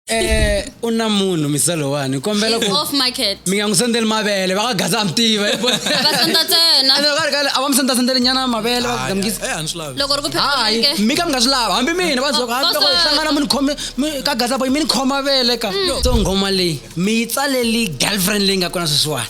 eh u na munhu misalowani kombela She's ku off market. mi nga n'wi sendzeli mavele va ka gaza a mi tiva hi vona. Va senda ntsena. Ene va ri kale, a va mi sendza sendzeli nyana mavele va ku gamukisa Eh, a ni swi lavi Loko ri ku phela hayi ke. mi ka mi nga swi lava hambi mina va zoko hambi loko hi Boss- hlangana mi ni khome mi- ka gaza boy mi ni khoma vele ka so nghoma leyi mi yi tsaleli girlfriend leyi nga kona sweswiwani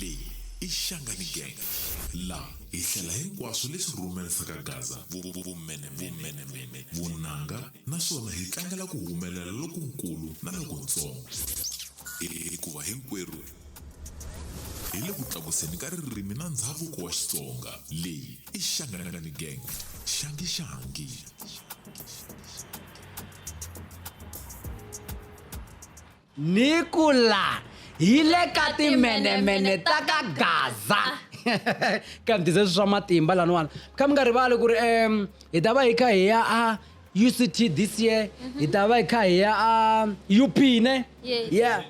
leyi i xangani gang laha hi hlela hinkwaswo leswi rhumerisaka gaza vumenemene vunanga naswona hi tlangela ku humelela lokunkulu na lokuntsongo hikuva hinkwerhu hi le ku tlakuseni ka ririmi na ndhavuko wa xitsonga leyi i xangani gang xangi xangi ni ku la hi le ka timhenemhene ta ka gaza ka mi tise swa matimba laniwana kha mi nga rivali ku ri um hi ta va hi kha hi ya a uct this year mhm. hi ta va hi kha hi ya a up ne yeah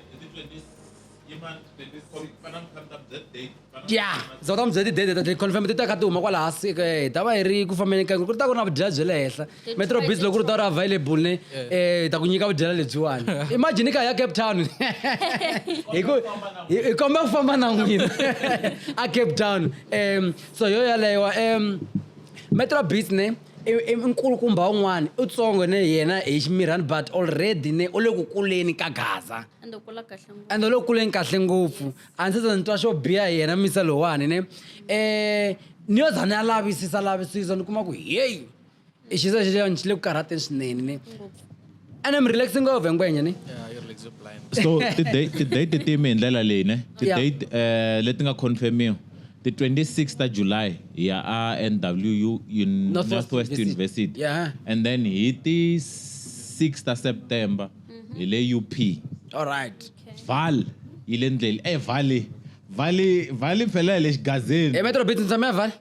ya za ta mi byela tidede ta ticonfirm ti ta kha ti huma kwala hasi ka hi ta va hi ri ku fambeni ka ku ri ta ku ri na vudyela bya le henhla metro biz loko ku ri ta ri available ne eh, hi ta ku nyika vudyela lebyiwani imagine ka ya cape town hi ku hi hi komba ku famba na n'wina a cape town um so yo yaleyo um metro biz ne i- i nkulukumba un'wana u tsongo ne yena hi ximirhani but already ne u le ku kuleni ka gaza ende u kula kahle ngopfu ende lo kuleni kahle ngopfu a ndzi se ni twa xo biha hi yena misa lowani ne um ni yo za ni ya lavisisa lavisisa ni kuma ku heyi i xisa xexani xi le ku karhateni swinene ne ene mi relaxi ngopfu hi ngwenya ne so ti-date timi hi ndlela leyi ne ti-date um leti nga confirmiwa ti 26 ta july hi ya a nwu northwest university and then hi ti 6 ta september hi le up all right Val yi le ndleli e vali vali vali phela hi le xigazini emetro bit ni tshame ya vali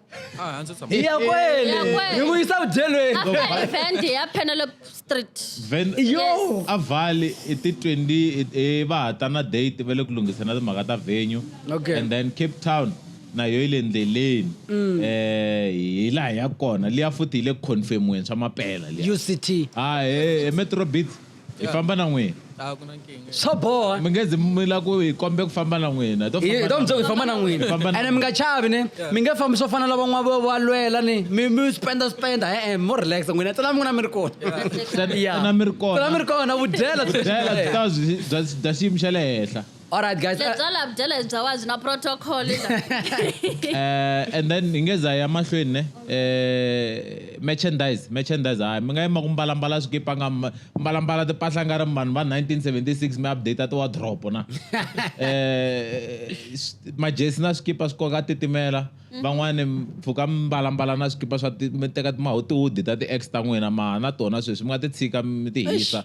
hi ya kwele Ya kwele. hi n'wi yisa vudyelweni after event ya penelope street Ven- Yo! a vali i ti 20 i- i va ha ta na date va le ku lunghisana timhaka ta venue Okay. and then cape town na yo yi le ndleleni um hi laha ya kona liya futhi yi le ku confirmiweni swa mapela liya uct ah he metro beats hi famba na n'wina a ku na nkingha swa boha mi nge zi mi la ku hi kombe ku famba na n'wina hi to hi hi ta famba mundzuku hi famba na n'wina Hi famba na ene mi nga chavi ne mi nge fambi swo fana na van'wana vo va lwela ni mi mi spenda spenda e-e mo relax n'wina tsala mi n'wina mi ri kona Tsala- Ya. tsala mi ri kona. tsala mi ri kona vudyela byi ta byi- bya bya xiyimo xa le henhla All right, guys. Uh, lebya la byela hi bya wa byi na protocol eh, and then hi nge za ya mahlweni ne eh, merchandise merchandise hayi mi nga yima ku mbalambala swikipa nga mbalambala timpahla nga ri vanhu va 1976 mi update ti wardrobe na eh, majesi na swikipa swi koka titimela mhm. van'wani mpfhuka mbalambala na swikipa swa mi teka timahotiwudi ta ti-ex ta n'wina ma na tona sweswi mi nga ti tshika mi ti hisa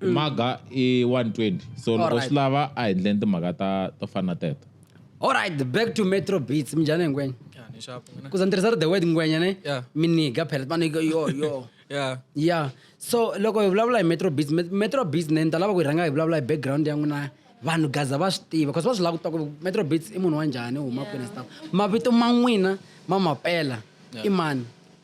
maga i 120 so loko Alright. swi lava a hi ndleni timhaka ta to fana na teto alright back to metro beats minjhani ngwenya Yeah, ni sharp, ngwenya. kuza ni tirhisa ri the word ngwenya ne Yeah. miniga phela manike yo yo Yeah. ya so loko hi vulavula hi metro beats Met- metro beats ne ni ta lava ku hi rhanga hi vulavula hi background ya n'wina vanhu gaza va swi tiva bcause va swi lava ku twa ku metro beats i munhu wa njhani u huma kwini stuff mavito ma n'wina ma mapela i mani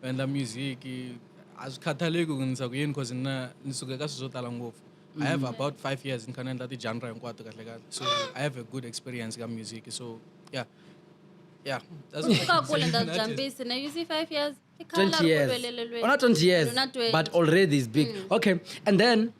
ku endla music a swi khathaleki ku ndisa ku yini cause na ni suke ka swilo swo tala ngopfu i have mm-hmm. about five years ni kha ni endla ti-genre hinkwato kahle kahle so i have a good experience ka music so yeah yeah that's what I can say. Jambisi. Now you see five years. 20 years. Oh, not 20 years. But already it's big. Mm. Okay. And then,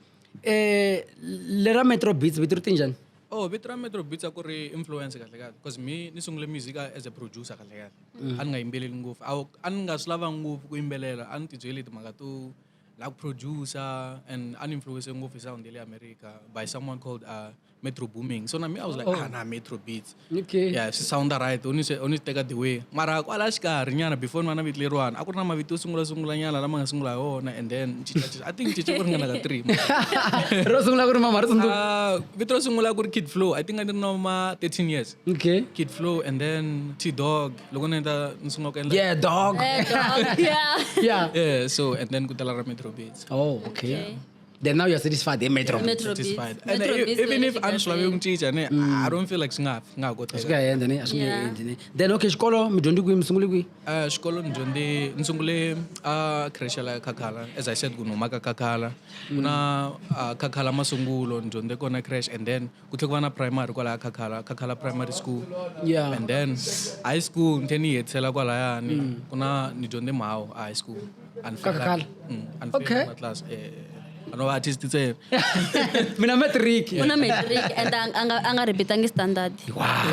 eh, lera Metro Beats, vito tinjan? Oh, vito Metro Beats ako re influence kahle kahle. Because me, ni sungule music as a producer kahle kahle. mm. a ni nga yimbeleli ngopfu a a ni nga swi lava ngopfu ku yimbelela a ni tibyele timhaka to la ku producer and an influence ngopfu sound le America by someone called uh, Metro Booming. So na me I was like, oh. ah na Metro Beats. Okay. Yeah, she sound right. Only se only take the way. Mara kwala xikari nyana before mana vitile rwana. A ku ri na mavito sungula sungula nyana lama nga sungula yona and then I think chicha ku ringana ka 3. Ro sungula ku ri mama ri tsundzuka. Ah, vito sungula ku ri Kid Flow. I think I didn't know ma 13 years. Okay. Kid Flow and then T Dog. Loko ni endla ni sungula ku endla Yeah, dog. Eh, dog, yeah. Yeah. Yeah, so and then kutala ra Metro Beats. Oh, okay. Okay. Then now you're satisfied. Hey, Metro. Metro Beats. Satisfied. And Metro e- Beats even wena if xi anhlwa kahle. yokucinca ne I don't feel like swi nga nga ha koteka. Swi nga ha endla ne, a swi nge Yeah. endi ne. Then okay, xikolo mi dyondzi kwihi, mi sungule kwihi? Uh, xikolo ni dyondze ni sungule a creche la khakhala as i said ku ni humaka khakhala ku na ah, khakhala masungulo ni dyondze kona creche and then ku tlhe ku va na primary kwalaya khakhala khakhala primary school yeah. and then high school ni tlhe ni yi hetisela kwalayani mm. ku na ni dyondze mhawu a high school khakhala mm, okay class eh, eh, eh. no va artist ntsena mina matric u na matric and a nga repeatangi standard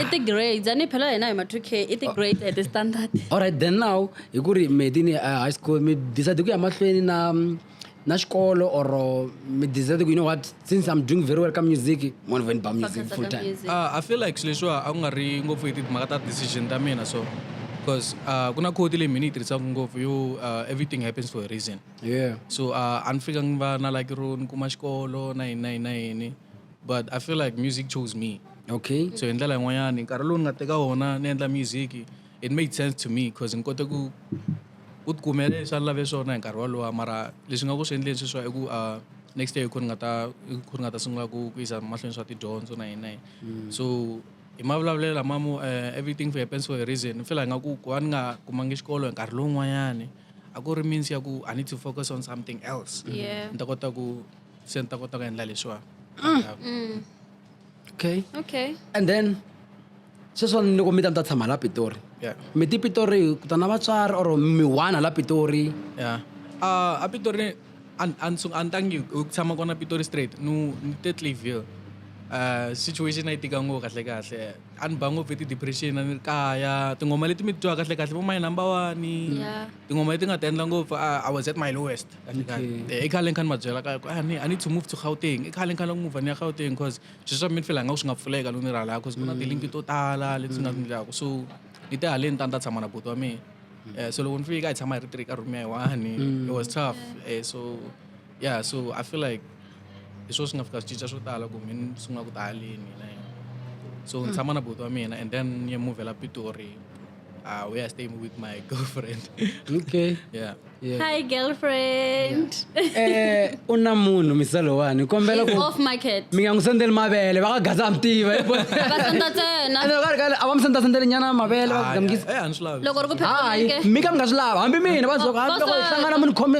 i ti-grades a ni phela hina hi ma-two k i ti-grades at standard alright then now hi ku ri medi ni eh, high school mi decide ku ya mahlweni na mm, na xikolo or mi decide ku you know what since i'm doing very well ka music mona veni ba music full time uh, i feel like swilo leswiwa a ku nga ri ngopfu hi timhaka ta decision ta mina so because uh, ku na khoti leyi mina yi tirhisaka ngopfu yo uh, everything happens for a reason yeah so uh, a ni fika ni va na like ro ni kuma xikolo na yini na yini na yini but i feel like music chose me okay so hi ndlela yin'wanyani nkarhi lowu ni nga teka wona ni endla music it made sense to me because ni kote ku ku tikumela leswi a ni lave swona hi nkarhi wolowo mara leswi nga ku swi endleni sweswiwa i ku uh, next year hi ku ni nga ta hi ku ni nga ta sungula ku ku yisa mahlweni swa tidyondzo na yini na yini mm. so hi mavulavulelo lama mo uh, everything for happens for a reason ni fela hi nga ku ku va ni nga kumangi xikolo hi nkarhi lowun'wanyani a ku ri means ya ku i need to focus on something else ni ta kota ku se ni ta kota ku endla leswiwa mm. mm. okay okay and then sweswo ni loko mi ta mi ta tshama la pitori yeah. mi ti pitori ku ta na vatswari or mi one la pitori yeah. uh, a pitori a ni tangi ku tshama kona pitori straight ni te clayville uh, situation a yi tika ngopfu kahle kahle a ni ba ngopfu hi ti-depression a ni ri kaya tinghoma leti mi twa kahle kahle vo my number one yeah. tinghoma leti nga ti endla ngopfu i was at my lowest i khale ni kha ni ma byela ka ku ah, i need to move to gauteng i khale ni kha ni move ni ya gauteng because swilo swa mina fela nga ku swi nga pfuleka loko ni rhala because ku na mm. tilinki to tala leti nga ni ndlaku so ni te haleni ta ni ta tshama na buti wa mina mm. eh, so loko ni fika hi tshama hi ri tiri ka room ya hi one mm. it was tough eh, so yeah so i feel like hi swo swi nga fika swi cinca swo tala ku mi ni sungula ku ta haleni hina so ni hmm. tshama na buti wa mina and then ni ya muvhela pitori uh, where I stay with my girlfriend. okay. Yeah. yeah. Hi girlfriend. Eh u na munhu misalo wani kombela ku off market. Mi nga n'wi sendeli mavele va ka gaza a mi tiva. Va senda tsena. Ene ka ka a va mi senda sendeli nyana mavele va ku gamgisa. Eh a ni swi lavi. Loko ri ku phela. Mi ka mi nga swi lava hambi mina va zoka hambi loko hi hlangana mi ni khome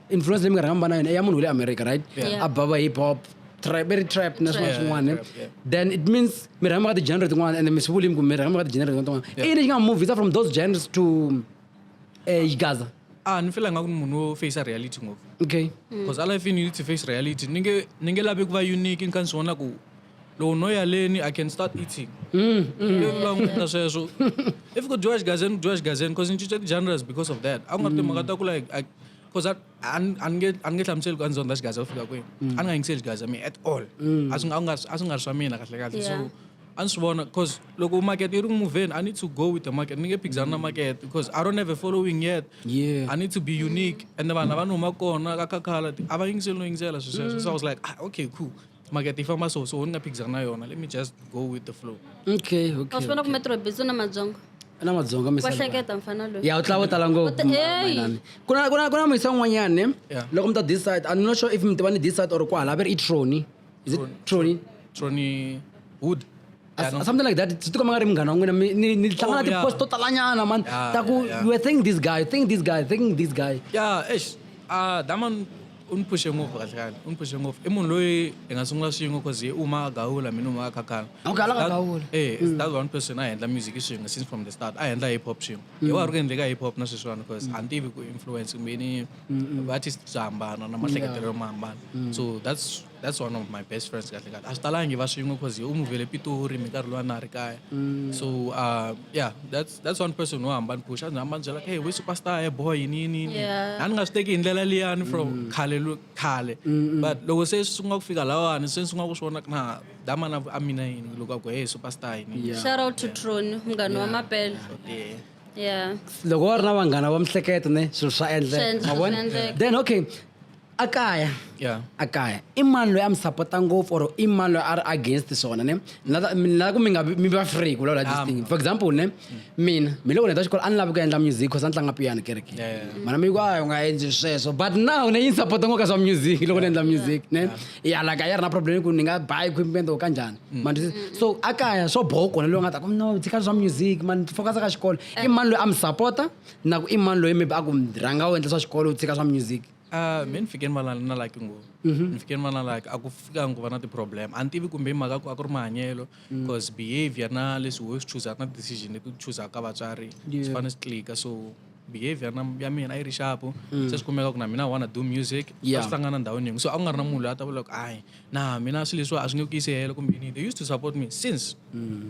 influence leyi mi nga rhanga mi va na yona i ya munhu wa le america right Yeah. a bava hip hop trap i ri trap na swin'wana Trap. swin'wana Trap, yeah. then it means mi rhanga mi ka ti-genre tin'wana and mi swi vulimi ku mi rhanga mi ka ti-genre tin'wana tin'wana i yini lexi nga mi movisa from those genres to um yigaza a ni fela nga ku ni munhu wo facea reality ngopfu okay because i life in you need to face reality ni nge ni nge lavi ku va unique ni kha ni swi vona ku loko no ya leni i can start eating mm, mm. languta sweswo if ku dyiwa xigazeni ku dyiwa xigazeni because ni cince ti-genres because of that a ku nga ri timhaka ta ku like because a ni nge a ni nge hlamuseli ku a ni zonda xigaza ku fika kwini mm. a ni nga yingiseli xigaza mi at all a swi nga a a swi nga ri swa mina kahle kahle so a ni swi vona because loko market yi ri moveni i need to go with the market ni nge phikizana na market because i don't have a following yet yeah. i need to be unique and vanhu lava ni huma kona ka khakhala a va yingiseli no yingisela swi sweswo so i was like ah, okay cool market yi famba so so ni nga phikizana na yona let me just go with the flow okay a okay swi vona ku metro bits u na madzonga na madzonga wa misava hleketa mfana loyi ya u tlava u tala ngopfu Uta- Hey! Manami. ku na- ku na- ku na muyisa un'wanyana ne Yeah. loko mi ta this side i'm not sure if mi tiva ni this side or kwahala a va ri i troni is it troni troni wood As- Yeah, no. something like that swi tikomba nga ri munghana wa n'wina mi- ni ni hlangana Oh, yeah. ti-post to talanyana mani Yeah, ta ku yeah, yeah. you were thinking this guy thinking this guy thinking this guy ya eish ah that man u ni phushe ngopfu kahle kahle u ni phushe ngopfu i munhu loyi hi nga sungula swin'we cause ye uma a gawula mina uma a khakhana Okay, a la ka That- gawula. eh it's that one person a endla music swin'we since from the start a endla hip hop swin'we hi wa ri ku endleka hip hop na sweswiwani cause a ni tivi ku influence kumbeni va-artist bya hambana na mahleketelo ma hambana so that's that's one of my best friends kahle kahle a swi talangi va swin'we cause u move le pitori mi nkarhi lowa na ri kaya mm. so uh, yeah that's that's one person wo hamba ni pusha a ndzi hamba ni byela hey we superstar he boy yini yini yini a ni nga swi teki hi ndlela liyani from mm. khale khale but loko se swi sungula ku fika lawani se ni sungula ku swi vona na damana a mina yini loko a ku hey superstar yini shout out to tron munghana wa mapele yeah loko wa ri na vanghana va mihleketo ne swilo swa endleka then okay a kaya yeah. a kaya i mani loyi a mi sapota ngopfu or i mani loyi a ri against swona ne nilava ku mi nga mi va free ku lawula this ah. thing for example ne mina mi loko ni ta xikolo a ni lavi ku endla music cause a ni tlanga piyano kereke mana mi ku a u nga endli sweswo but now ne yi ni sapota ngo ka swa music loko ni endla music ne ya laka ya ri na problem ku ni nga buy equipment or kanjhani mm. man so a kaya swo boho kona loyi nga ta ku no tshika swa music man focus ka xikolo i eh. mani loyi a mi sapota na ku i mani loyi maybe a ku rhanga u endla swa xikolo u tshika swa music Uh, me ni fike ni va na na like ngopfu mhm. ni fike ni va na like a ku fika ku va na ti-problem a ni tivi kumbe mhaka ku a ku ri mahanyelo because mm. behavior na leswi wo swi chuzaka na decision leti u chuzaka ka vatswari swi fane swi tlika so behavior na ya mina a yi ri xapu mm. se swi kumeka ku na mina wanna do music a swi hlangana ndhawini yin'we so a ku nga ri na munhu loyi a ta vula ku ayi na mina swilo leswiwa a swi nge ku yisi helo kumbe they used to support me since mm.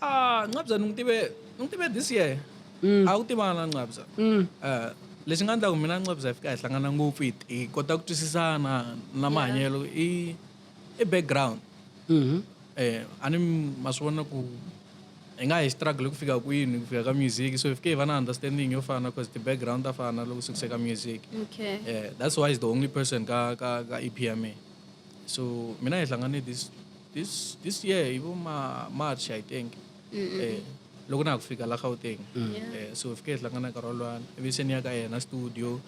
Ah, Nqabza ni n'wi tive ni n'wi tive this year. Mm. A wu tivana Nqabza. Mm. Eh, lexi nga endla ku mina Nqabza hi fika hi hlangana ngopfu hi hi kota ku twisisana na mahanyelo i i background. Mhm. Eh, a ni ma swi vona ku hi nga hi struggle ku fika kwini ku fika ka music so hi fike hi va na understanding yo fana cause ti-background ta fana loko swi kuse ka music. Okay. Eh, that's why he's the only person ka ka ka EP ya mina. So mina hi hlangane this this this year hi vo ma march i think eh loko na ha ku fika la gauteng mm. eh so hi fike hi hlangana nkarhi wolwana ivi se ni ya ka yena studio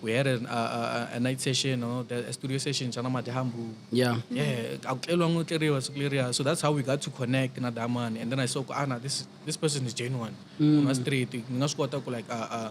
we had a, a, a, a night session or the, a studio session xa na madyambu yeah yeah a ku tleriwa ngo tleriwa siku leriya so that's how we got to connect na damani and then i saw ku ana ah, this this person is genuine mm. straight ni nga swi kota ku like uh, uh,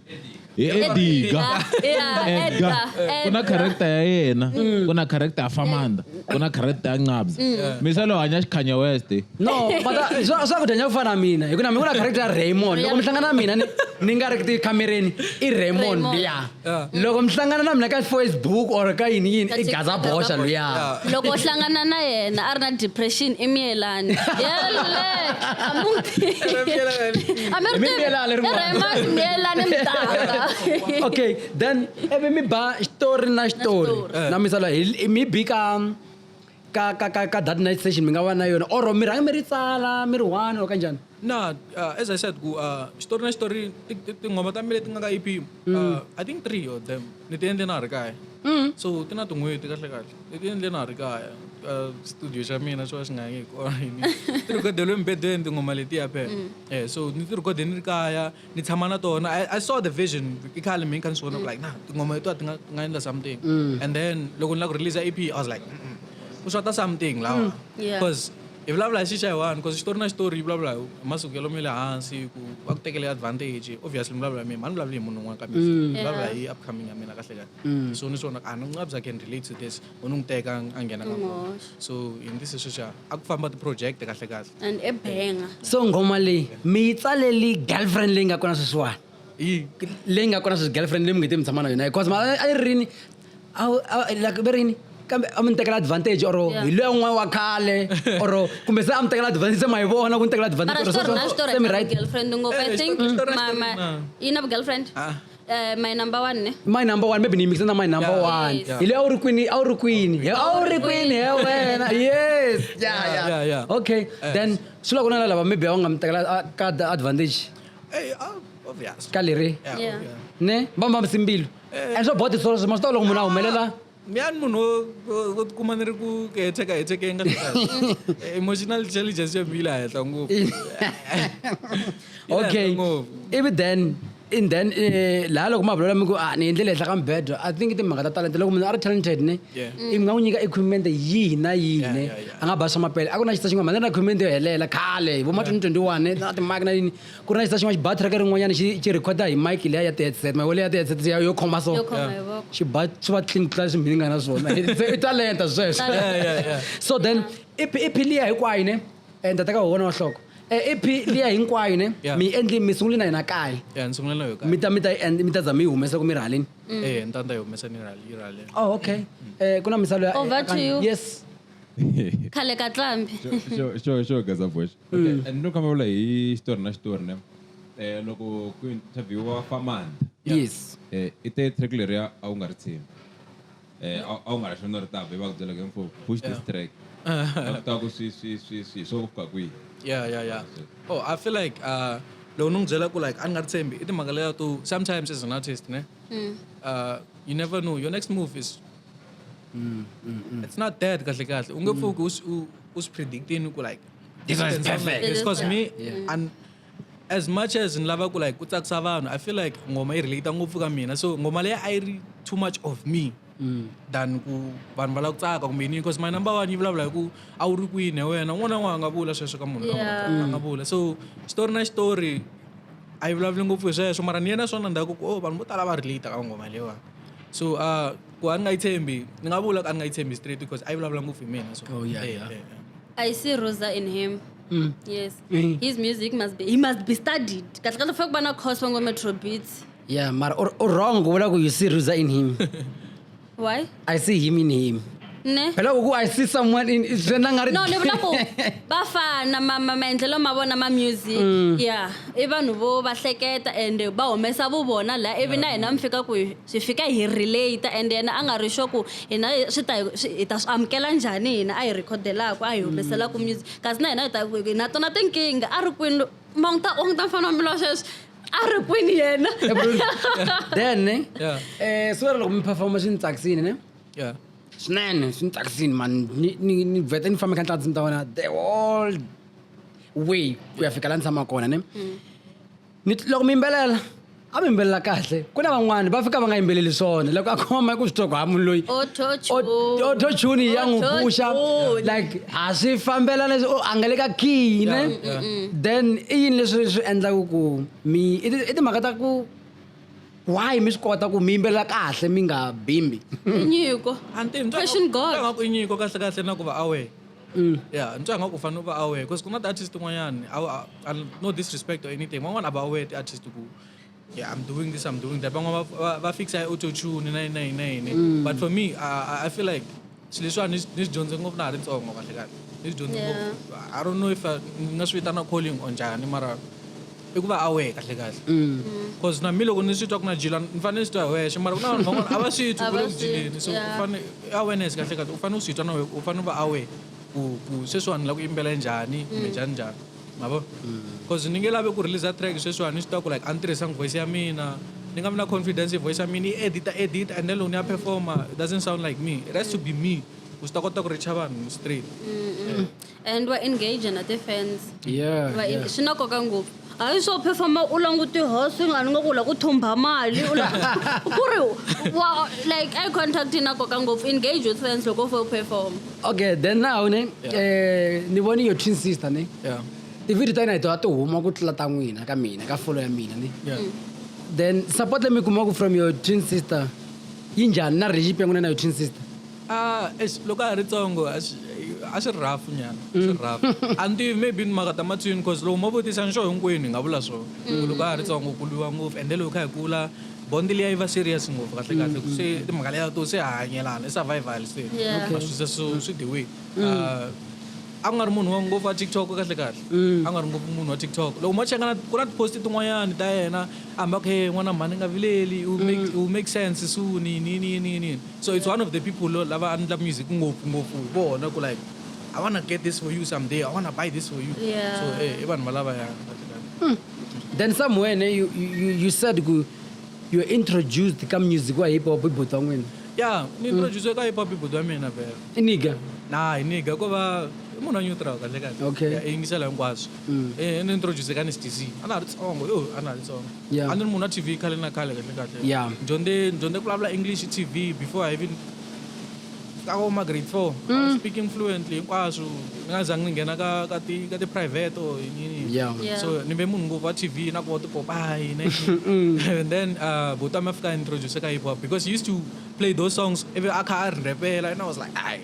hi ediga edga ku na character ya yena mm. ku na character ya famanda ku na character ya nqabza mm. misa lo hanya xikhanya west no swa ku dyanya ku fana mina hi ku na mi ku na character ya raymond loko mi hlangana na mina ni nga ri ti khamereni i raymond luya loko mi hlangana na mina ka facebook or ka yini yini i gaza boxa luya loko hlangana na yena a ri na depression i miyelani yele Ame rute. Emi miela ale ruma. Rema miela ne mtaka. Okay, then ebe mi ba story na story. story. Na misala hi mi bi ka ka ka ka, ka that night session mi nga va na yona or mi rhanga mi ri tsala mi ri one or kanjani na uh, as i said ku uh, story na story ti- ti- tinghoma ta mi leti nga ka ep uh, i think three of them ni ti endle na ha ri kaya mm. so ti na tin'hweti kahle kahle ni ti endle na ha ri kaya ka studio xa mina xo va xi nga yangi kona ti rhikhodeliwe embedweni tinghoma letiya phela mm. eh so ni ti rhikhode ni ri kaya ni tshama na tona i saw the vision i khale mina kha ni swi vona ku like na tinghoma letiwa ti nga ti nga endla something mm. and then loko ni lava ku release ep i was like ku xota something lawa because hi vulavula hi xixa hi one because xitori na xitori yi vulavula hi masukelo ma le hansi ku va ku tekele advantage obviously mi vulavula hi mina mhani vulavuli hi munhu un'wana kambe mm. vulavula hi upcoming ya mina kahle kahle mm. so ni swona a ni nga bya can relate to this u ni n'wi teka a nghena ka so hi ndzi se sweswi a ku famba ti-project kahle kahle and ebenga so nghoma leyi mi yi tsaleli girlfriend leyi nga kona sweswiwani leyi nga kona sweswi girlfriend leyi mi nge te mi tshama na yona because ma a yi rini a wu- a- like ve rini kambe a mi ni tekela advantage or Yeah. hi loya n'wana wa khale or kumbe se a mi tekela advantage se ma yi vona ku ni tekela advantage mara or switori so- na so- switori se mi na right girlfriend ngopfu i Eh, think switori- switori na ma- switori ma- na. yi na girlfriend Ah. Eh, my number one ne my number one maybe ni mixe na my number Yeah. one Yes. hi leyi a wu ri kwini a wu ri kwini He- a wu ri kwini he wena yes yeah, yeah. Yeah, yeah. okay then swi la ku na na lava maybe a wu nga mi tekela a- ka da- advantage Hey, oh, obvious. ka leri Yeah, Yeah. obvious. ne va mambisi mbilu and swa body solo swima swi ta loko munhu a humelela ni yani munhu wo tikuma ni ri ku heteka heteke nga emotional intelligence ya vile henhla ngopfu okay ivi then in then eh, laha loko ma vulavula mi ku a ah, ni endlele henhla ka mibedwa i think timhaka ta talente loko munhu a ri talented ne i nga n'wi nyika equipment yihi na yihi ne a nga ba swa mapele a ku na xisa xin'wana mhani ri na equipment yo helela khale vo ma 2021 na timaki na yini ku ri na xisa xin'wana xi ba track rin'wanyana xi xi recorda hi mic leya ya ti-headset ma yona ya ti-headset ya- yo khoma so Yo khoma hi voko. xi ba swi va clean ku tlula leswi mhini nga na swona Se i talenta sweswo Talenta. Yeah, yeah, yeah. so then ep ep liya hinkwayo ne um tata ka wona wa hloko Eh, ep liya hinkwayo ne Yeah. mi yi endli mi sungule na yena kaya ya ni sungula na yo mi kaya ta mi ta yi end- mi ta za mi yi humesa ku mi ri haleni eh ni ta ni ta yi humesa ni rale yi rale oh okay Eh, ku na misalo ya Over to you. yes khale ka tlambi Sure, sure, sure, Gaza Voice. Okay, and no kamba vula hi xitori na xitori ne eh loko ku interviewa famanda yes eh i te track leriya a wu nga ri tshembi eh a a wu nga ri xona ri ta be va ku byela ke mfo push this track va ku ta ku swi swi swi swi swo ku fika kwihi yeah yeah yeah oh i feel like uh loko ni n'wi byela ku like a ni nga ri tshembi i timhaka leya to sometimes as an artist ne uh you never know your next move is Mm, mm, mm. It's not that kahle kahle. Unge mm. fuku us us predicting ku like this is perfect. It's because me yeah. and as much as in lava ku like ku tsakisa vanhu I feel like ngoma i relate ngopfu ka mina. So ngoma leya I read too much of me. Mm. than ku vanhu va lava ku tsaka kumbe yini because my number one yi vulavula hi ku a wu ri kwini hi wena n'wana n'wana a nga vula sweswo ka munhu a nga vula so xitori na xitori a yi vulavuli ngopfu hi sweswo mara ni yena swona ndhaku ku o oh, vanhu vo tala va relate ka ngoma leyiwani so uh, ku a ni nga yi tshembi ni nga vula ku a ni nga yi tshembi straight because a yi vulavula ngopfu hi mina so Oh, yeah, eh, yeah. eh, eh. I see Rosa in him. Mm. Yes. Mm. His music must be he must be studied. Kahle kahle fanele ku va na course wa ngo Metro Beats. yeah mara u- u wrong ku vula ku you see ruza in him Why? i see him in him Ne? phela ku ku i see someone in swi endla nga ri No, ni vula ku va fana ma ma- maendlelo ma vona ma music. Mm. Yeah. I vanhu vo va hleketa and va humesa vu vona la ivi na hina mi fika ku Swi fika hi relate and yena a nga ri sure ku hina swi ta hi ta swi amukela njhani hina a hi rhikhodelaku a hi humeselaku music kasi na hina hi ta hi na tona tinkingha a ri kwini ma n'wi ta u n'wi ta fana mbilu sweswi a ri kwini yena then ne eh so loko mi performa swi ni tsakisini ne swinene swi ni tsakisini mani ni vheta ni famba kha ni tlandzimi ta wena the whole way ku ya fika la ni tshama kona ne mm. mi loko mi yimbelela a mi yimbelela kahle ku na van'wani va fika va nga yimbeleli swona loko a khoma ku swi twa ku ha munhu loyi autotune ya n'wi puxa like a swi fambelana o a nga le ka key ne then i yini leswi swi endlaka ku mi i timhaka ta ku why mi swi kota ku mi yimbelela kahle mi nga bimbi nyiko fashion god i nyiko kahle kahle na ku va aware Mm. Yeah, nitwa ngaku fana u va aware because ku na ti-artist tin'wanyani no disrespect or anything van'wana a va aware ti-artist ku yeah, I'm doing this, I'm doing that. Van'wana va va fixa auto tune na yini na yini na yini. Mm. But for me, I, I feel like swilo leswiwa ni swi dyondze ngopfu na ha ri ntsongo kahle kahle. Ni swi dyondze ngopfu. I don't know if ni nga swi vitana calling or njhani mara i ku va a wehe kahle kahle because na mi loko ni swi twa ku na jila ni fanele ni swi twa hi wexe mara ku na vanhu van'wana a va swi twi A ku va le ku swi- jileni so yeah. u fane i awareness kahle kahle u fane u swi twa na wehe u fane u va aware ku ku sweswiwani ni lava ku yimbela njhani kumbe njhani njhani ma vo because ni nge lavi ku release track sweswiwani ni swi twa ku like a ni tirhisanga voice ya mina ni nga vi na confidence hi voice ya mina yi edita edita and then loko ni ya performer it doesn't sound like me it has to be me ku swi ta kota ku reacha vanhu straight and wa engage na ti-fans Yeah, Wa yeah. en- swi na nkoka ngopfu a hi swo phefoma u languti hosi nga ni nga ku la ku thumba mali u la- ku ri wa like eye contact yi na nkoka ngopfu engage with fans loko u fo perform okay then now ne eh ni voni your twin sister ne Yeah. tivhidiyo ta yina hi tona ti huma ku tlula ta n'wina ka mina ka folo ya mina ne Yeah. then support leyi mi kumaka from your twin sister yi njhani na relationship ya n'wina na your twin sister A eish loko a ha ri tsongo a swi a swi ri rough nyana a swi ri rough a ni tivi maybe ni maka ta matswini cause loko mo vutisa nxo hinkwenu hi nga vula swona ku loko a ha ri tsongo ku lwiwa ngopfu and then loko hi kha hi kula bond liya yi va serious ngopfu kahle kahle ku se timhaka liya to se ha hanyelana i survival se Yeah. ma swi se so swi the way Ah, a ku nga ri munhu wa ngopfu wa tiktok kahle kahle a nga ri ngopfu munhu wa tiktok loko mo cheka na- ku na tiposti tin'wanyani ta yena a hamba ku he n'wana mhani nga vileli u make, u make sense suni yini yini yini yini So it's one of the people lava a ndla music ngopfu ngopfu hi vona ku like I wanna get this for you someday. I wanna buy this for you. Yeah. So eh, i vanhu valava ya. Hmm. Then somewhere ne, you, you, you said ku you introduced ka music wa hip hop ibhuti wan'wina. Yeah, ni hmm. introduce ka hip hop ibhuti wa mina vela. I nigga. Nah, i nigga ko va munhu wa neutral kahle kahle. Okay. I yingisela hinkwaswo. Hmm. Eh, ni introduce ka ni STC. A na ha ri tsongo, yo, a na ha ri tsongo. yeah. a ni ri munhu wa tv khale na khale kahle kahle yeah. dyondze dyondze ku vulavula english tv before i even ka vo ma grade four mm. speaking fluently hinkwaswo ni nga zangi ni nghena ka ka ti ka ti private or yini yeah. yeah. so ni ve munhu ngopfu wa tv na ku va tipopayi ne mm. and then uh, buto a mi fika introduce ka hip hop because he used to play those songs ivi a kha a ri rhepela and i was like ai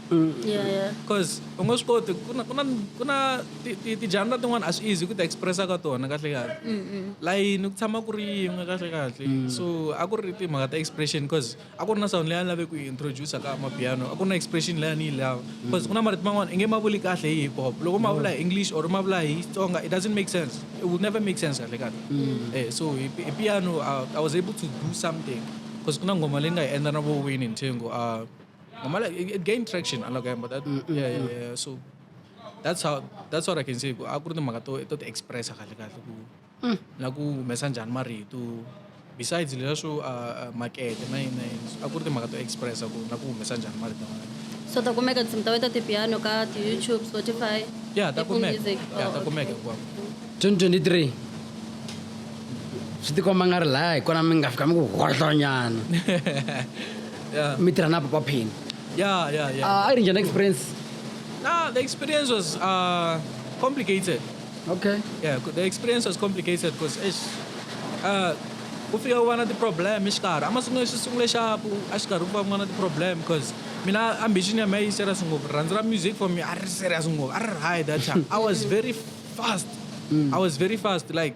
Mm. Yeah, yeah. Cause u nga swi koti ku na ku na ku na tidyanda tin'wana a swi easy ku ti expressa ka tona kahle kahle layini ku tshama ku ri yin'we kahle kahle mm. so a ku ri timhaka ta expression cause a ku ri na sound leyi a ni lave ku yi introduce ka mapiano a ku ri na expression leyi a ni yi lava mm. cause ku na marito man'wana i nge ma vuli kahle hi hip hop loko ma vula hi english or ma vula hi xitsonga it doesn't make sense it will never make sense kahle kahle mm. eh so hi piano I was able to do something cause ku na ngoma leyi nga hi endla na vo wini nthengo a ah, Normally, it, it gained traction. I'm like, but that, mm, mm, yeah, yeah, mm. yeah. So that's how that's what I can say. A ku ri timhaka to to ti expressa kahle kahle ku mm. na ku humesa njhani marito besides leswo uh, uh, makete na yini na yini a ku ri timhaka to expressa ku na ku humesa njhani marito so ta kumeka tinsimu ta wena ta tipiano ka ti-youtube spotify ya ta kumeka ya ta oh, kumeka hinkwako 2023 swi tikomba nga ri laya hi kona mi nga fika mi ku hohlonyana yeah. mi tirha na papa phini yeah, yeah, yeah. Uh, a ri njhani experience nah, the experience was uh, complicated okay yeah the experience was complicated because uh, ku fika u va na ti-problem exikarhi a masungulo xi sungule xapu a xikarhi ku va ku va na ti-problem because mina ambition ya mina yi serious ngopfu rhandzi ra music for me a ri serious ngopfu a ri ri high that time i was very fast mm. i was very fast like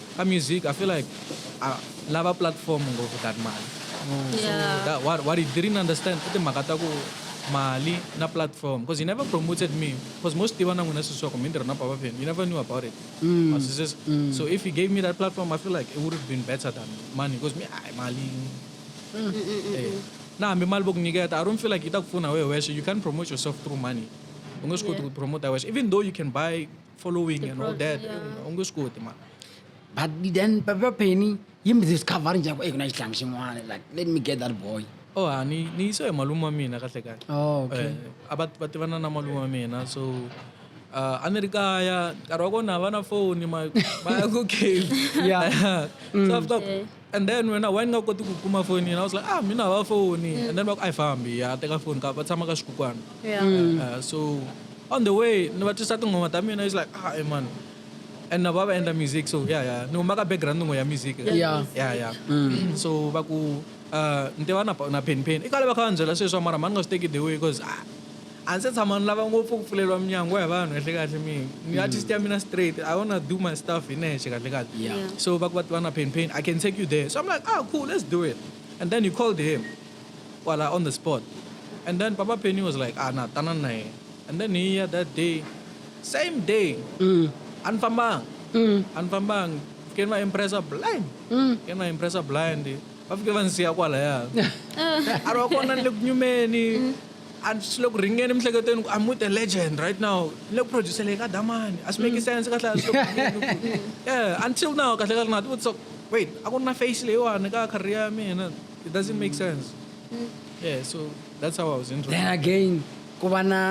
ka music i feel like uh, lava platform ngopfu that mali mm. so that, what, what he didn't understand i timhaka ta ku mali na platform because he never promoted me because most tiva na n'wina siswako mi ntirha na papa pen you never knew about it mm. mm. so if he gave me that platform i feel like it would have been better than money because me ay mali mm. hey. Eh. na hambi mali vo ku nyiketa i don't feel like yi ta ku pfuna wehe wexe you can't promote yourself through money u nge swi koti ku promote wexe even though you can buy following and all that u nge swi koti mara but then papa penny yi mi discover njhani eyi ku na xihlangi xin'wana like let me get that boy oh ha ni ni yise hi malume wa mina kahle kahle oh, okay. Eh, a va va tivana na malume wa mina so uh, a ni ri kaya nkarhi wa kona va na foni va ya ku cave so after mm. and then wena why ni nga koti ku kuma foni yena was like ah mina hava foni mm. and then va ku a yi fambi ya teka foni ka va tshama ka xikukwana yeah. mm. uh, so on the way ni va twisa tinghoma ta mina is like ah hey, man and na va va endla music so ya ya ni huma ka background n'we ya music ya ya mm. so va ku uh, ni tiva na na pen pen i kale va kha va ni byela sweswi mara mani nga swi teki the way because ah A ni se tshama ni lava ngopfu ku pfuleriwa minyango hi vanhu kahlekahle mi ni artist ya mina straight i wanna do my stuff hi nexe kahlekahle Yeah. Yeah. so va ku va tiva na pain pain i can take you there so i'm like ah cool let's do it and then he called him kwala on the spot and then papa penny was like ah na tanani na yena and then hi ya that day same day Mm. a ni fambanga Mm. a ni fambanga keni va impressa blind Mm. keni va impressa blind va fike va ni siya kwalaya a ri wa kona ni le ku nyumeni mm. a swi le ku ringeni emiehleketweni ku amut a legend right now ni le ku produceleni ka damani a swi make mm. sense kahle yeah until now kahle kahle na ti vutisa wait a ku ri na face leyiwani ka career ya mina it doesn't make mm. sense yeah so that's how i was then again ku va na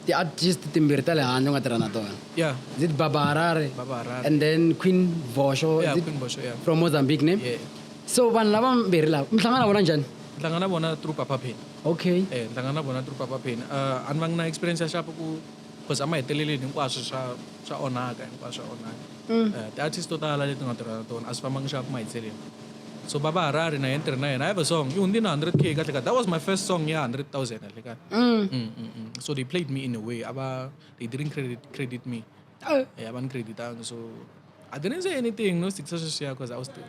ti-artist timbirhi ta le handle u nga tirha na tona yeah is it baba harare baba harare and then queen vosho yeah, queen vosho yeah from mozambique ne yeah. so vanhu lava mbirhi lava mi hlangana vona njhani ndlanga na vona through papa pain okay eh ndlanga na vona through papa pain uh a ni va ngi na experience ya shapo ku because a ma heteleleni hinkwaswo swa swa onhaka hinkwaswo swa onhaka mm. eh, ti-artist to tala leti nga tirha na tona a swi fambanga xaku mahitseleni so baba harari na yena tirhi na yena i have a song i hundzi na 100 k kahle ka that was my first song ya 100 000 kahle ka mm. mm, mm, mm. so they played me in a way ava they didn't credit, credit me eh. eh, ava ni creditanga so i didn't say anything no sitisa sweswiya because i was still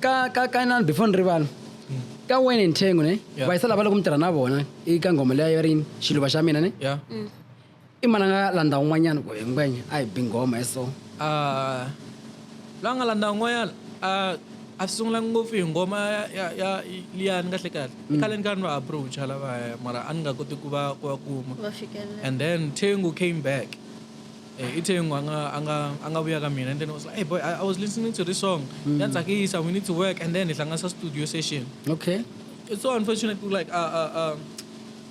ka ka ka inani before ni rivala ka wayne and thengo ne Yeah. vayisa lava loko mi tirha na vona i ka nghoma leya yo rini xiluva xa mina ne ya i mana nga landza un'wanyana ku hinkwenya a hi bi nghoma hi so Ah, la nga landza un'wanyana ah, a swi sungula ngopfu hi ngoma ya- ya ya liyani kahle kahle i khale ni karhi ni va approacha lavaya mara a ni nga koti ku va ku va kuma va fikelela and then tengu came back Eh, ithe ngo anga anga anga vuya ka mina and then I was like, hey boy, I, I was listening to this song. Mm. That's Akisa, we need to work and then it's like a studio session. Okay. It's so unfortunate like uh uh uh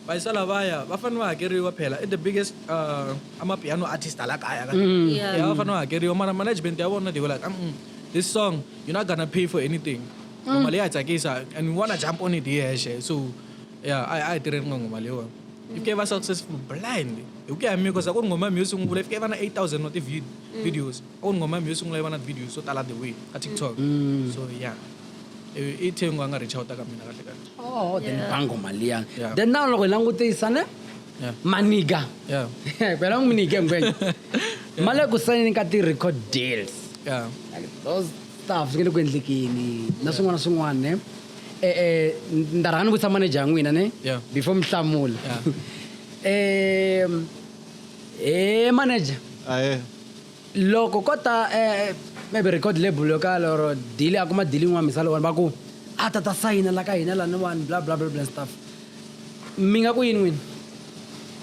vayisala vaya va fanele va hakeriwa phela i the biggest uh, amapiano artist ala kaya ka mm. yeah. yeah, va fanele va hakeriwa mara management ya vona they were like mm -mm, this song you're not gonna pay for anything mm. mali ya tsakisa and we wanna jump on it here so ya a a hi tirheni nga ngoma leyiwani yi fike yi va successful blind hi ku ya hi mikosa ku ri ngoma mi yo sungula yi fike yi va na 8000 wa ti-videos a ku ri ngoma mi yo sungula yi va na videos so tala the way ka tiktok so ya i thengu a nga reach outa ka mina kahle kahle oh then Yeah. bango mali ya Yeah. then now loko hi langutisa ne Yeah. maniga ya kwela n'wi nyike ngwenya ma le ku sayineni ka ti-record deals ya like those stuff swi nge le ku endlekeni na swin'wana na swin'wana ne eh, eh, ni ta rhanga ni vutisa maneja ya n'wina ne Yeah. before mi hlamula Yeah. um e maneja ahe loko ko ta eh, maybe record label yo kala or dili a kuma dili yin'wana misala wani va ku a ta ta sayina la ka hina laniwani bla bla bla bla stuff mi nga ku yini n'wini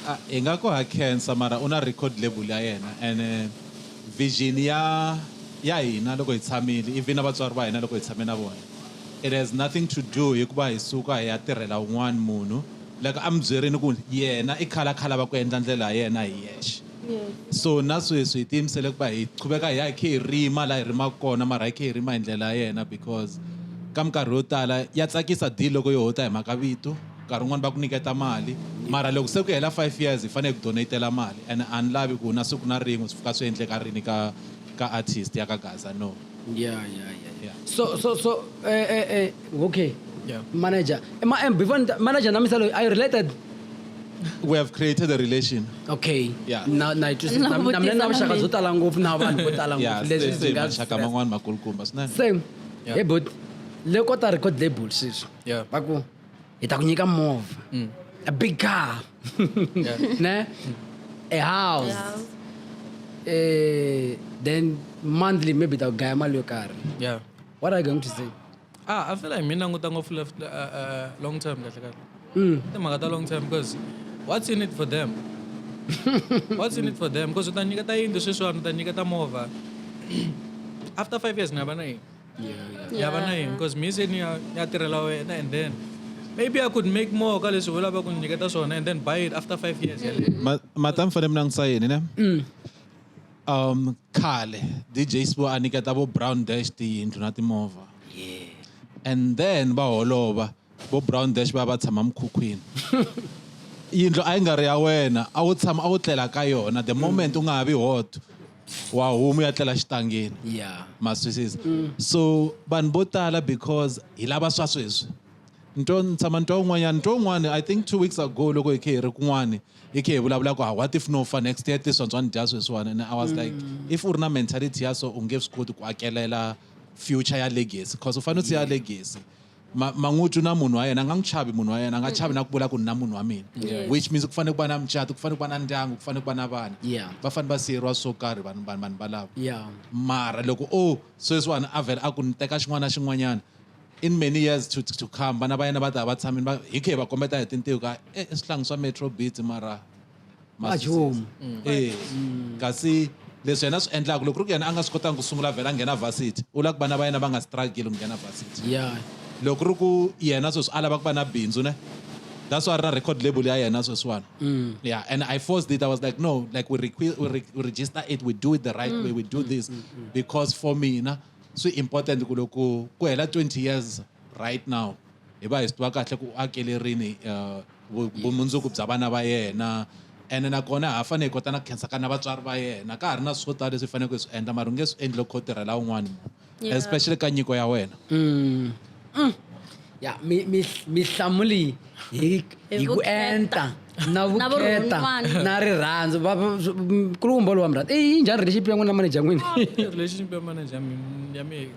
Ah, hi nga ku ha khensa mara u na record label ya yena and eh, Vision ya ya hina loko hi tshamile even na vatswari va hina loko hi tshame na vona it has nothing to do hi ku va hi suka hi ya tirhela un'wana munhu like a mi byerini ku yena i khala khala va ku endla ndlela ya yena hi yexe so na sweswi hi tiyimisele ku va hi qhuveka hi ya hi khe hi rima laha hi rimaka kona mara hi khe hi rima hi ndlela ya yena because ka minkarhi yo tala ya tsakisa deal loko yo ho ta hi mhaka vito Nkarhi wun'wana va ku nyiketa mali mara loko se ku hela five years hi fanele hi ku donate-ela mali and a ni lavi ku na siku na rin'we swi pfuka swi endleka rini ka ka artist ya ka Gaza no. Ya ya ya ya so so so eh eh eh okay yeah. manager ma eh, before manager na misalo are you related we have created a relation okay yeah na na it is na na na vuxaka byo tala ngopfu na vanhu vo tala ngopfu leswi byi nga vuxaka man'wana makulukumba swinene same yeah. hey but le kota record label sweswi yeah baku itakunyika movha mm. a big car yeah. ne a house yeah. Eh, then monthly maybe itagaya mali yo karhi yeah. what are you going to say ah, i feel like mi languta ngopfu left uh, uh, long term kahle kahle mm. timhaka ta long term because what's in it for them what's in it for them because u ta nyiketa yindlu sweswiwani u ta nyiketa movha after five years ni nga va na yini ya va na yini because mi se ni ya ya tirhela wena and then maybe i could make more ka leswi u lava ku ni nyiketa swona and then buy it after five years Ma- mata mi fanele mi langutisa yini ne um khale dj sbo a niketa vo brown dash tiyindlu na timovha and then va holova Vo Brown Dash va ya va tshama mukhukhwini. Yindlu a yi nga ri ya wena, a wu tshama a wu tlela ka yona. The moment u nga ha vi hot, wa huma u ya tlela xitangeni. Yeah. Ma swi twisisa? So vanhu vo tala because hi lava swa sweswi. Ni twa ni tshama ni twa un'wanyana, ni twa un'wana I think two weeks ago loko hi khe hi ri kun'wani hi khe hi vulavula ku ha what if no fa next year this one bya ni dya sweswiwani and I was like if u ri na mentality ya so u nge swi koti ku akelela future ya legacy cause u fanele u siya legacy. ma, man'utu na munhu wa yena a nga n'wi chavi munhu wa yena a nga chavi na ku vula ku ni na munhu wa mina Yes. which means ku fanele ku va na mucato ku fanele ku va na ndyangu ku fanele ku va na vana Yeah. va fanele va siyeriwa swo karhi vanhu vanhu vanhu valava yeah mara loko o sweswiwani a vhela a ku ni teka xin'wana na xin'wanyana in many years to, to come vana va yena va ta va tshamile va hi khe hi va kombeta hi tintiho ka e swihlangi swa metro beat mara majumu mm. eh, mm. kasi leswi yena swi endlaka loko ri ku yena a nga swi kotangi ku sungula vhela a nghena varsity u lava ku vana va yena va nga struggle ku nghena varsity yeah. loko ri ku yena sweswi a lava ku va na bindzu ne that's why ri na record label ya yena sweswiwana mm. yeah and i forced it i was like no like we, requ- we, re- we register it we do it the right mm. way we do mm. this mm. mm. because for mina swi important ku loko ku hela 20 years right now hi va hi swi tiva kahle ku u akele rini uh, vumundzuku bya vana va yena ene nakona ha fanele hi kota na ku khensa ka na vatswari va yena ka ha ri na swo tala leswi hi faneleke hi swi endla mara u nge swi endli loko kho tirhela un'wana Yeah. especially ka nyiko ya wena Mm. Mm. ya mi- mi- mihlamu leyi hi hi ku vukheta. enta na Na vukheta vurhon'wana. na rirhandzu Va- va- sw- m- kulukumba lowa mrata i yi njhani relationship ya n'wina na manager ya n'wina relationship ya manager ya mina ya mina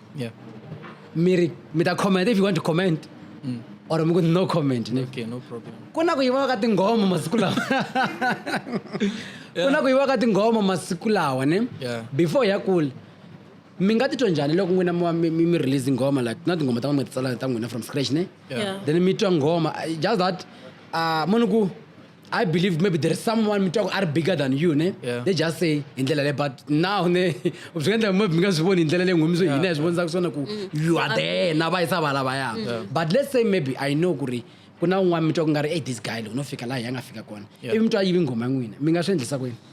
yeah miri mi ta comment if you want to comment mm. or mi ku no comment ne okay, no problem ku na ku yiviwa ka tinghoma masiku lawa ku na ku yiviwa ka tinghoma masiku lawa ne yeah. before ya kula mi nga titwa njhani loko n'wina mi mi mi release nghoma like na tinghoma ta n'wina mi ti tsala ta n'wina from scratch ne yeah. then mi twa nghoma just that uh, munhu ku I believe maybe there is someone mi twaku a ri bigger than you ne yeah. they just say hi ndlela le but now ne swi endla maybe mi nga swi voni hi ndlela leyi nghomi so hina hi swi vonisaka swona ku mm. you are there na va yisa va lavaya but let's say maybe i know ku ri ku na un'wana mi twa ku nga ri e this guy loko no fika laha hi ya nga fika kona ivi mi twa yivi nghoma ya n'wina mi nga swi endlisa kwini